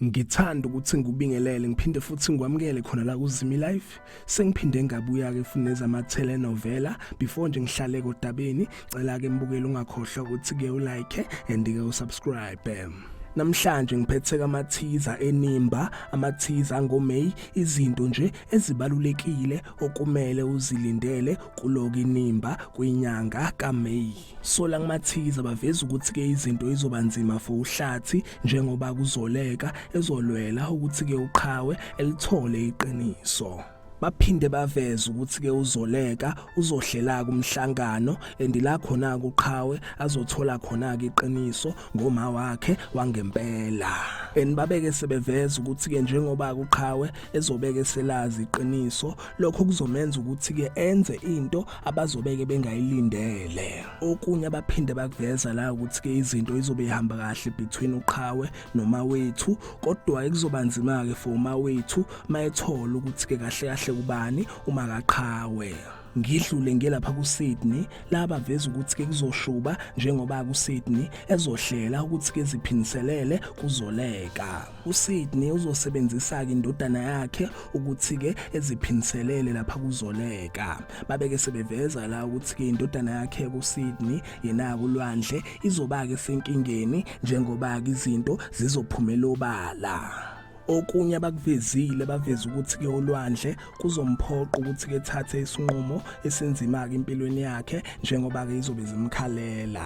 ngithanda ukuthi ngikubingelele ngiphinde futhi ngikwamukele khona la kuzimi life sengiphinde ngabuya ke futhi nezama telenovela before nje ngihlale kodabeni cela ke mbukeli ungakhohlwa ukuthi ke u like and ke u subscribe namhlanje ngiphethe kamathiza enimba amathiza ngoMay izinto nje ezibalulekile okumele uzilindele kuloku inimba kwinyanga kaMay. Sola kumathikiza baveza ukuthi ke izinto izoba nzima for uhlathi njengoba kuzoleka ezolwela ukuthi ke uqhawe elithole iqiniso. baphinde baveza ukuthi ke uzoleka uzohlelaka umhlangano endila khona kuqhawe azothola khona ke iqiniso ngoma wakhe wangempela enibabeke sebeveza ukuthi ke njengoba kuqhawe ezobeke eselazi iqiniso lokho kuzomenza ukuthi ke enze into abazobeke bengayilindele okunye abaphinde bakuveza la ukuthi ke izinto izobe ihamba kahle between uqhawe noma wethu kodwa ekuzoba nzima ke for uma wethu mayethola ukuthi ke kahle kahle kubani uma kaqhawe ngidlule ngelapha kuSydney la baveza ukuthi ke kuzoshuba njengoba kuSydney ezohlela ukuthi ke ziphindiselele kuzoleka uSydney uzosebenzisa ke indodana yakhe ukuthi ke eziphindiselele lapha kuzoleka babeke sebeveza la ukuthi ke indodana yakhe kuSydney yena kulwandle izoba ke senkingeni njengoba izinto zizophumela obala Okunye abakuvezile baveza ukuthi ke olwandle kuzomphoqa ukuthi ke thathe isinqumo esinzima ke impilweni yakhe njengoba ke izobe zimkhalela.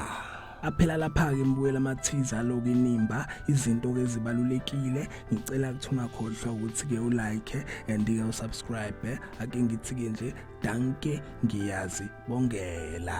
aphela lapha-ke ngibuyela amathiza aloku inimba izinto-ke ezibalulekile ngicela ukuthi ungakhohlwa ukuthi-ke ulike and-ke usubscribe ake ngithi-ke nje danke ngiyazi bongela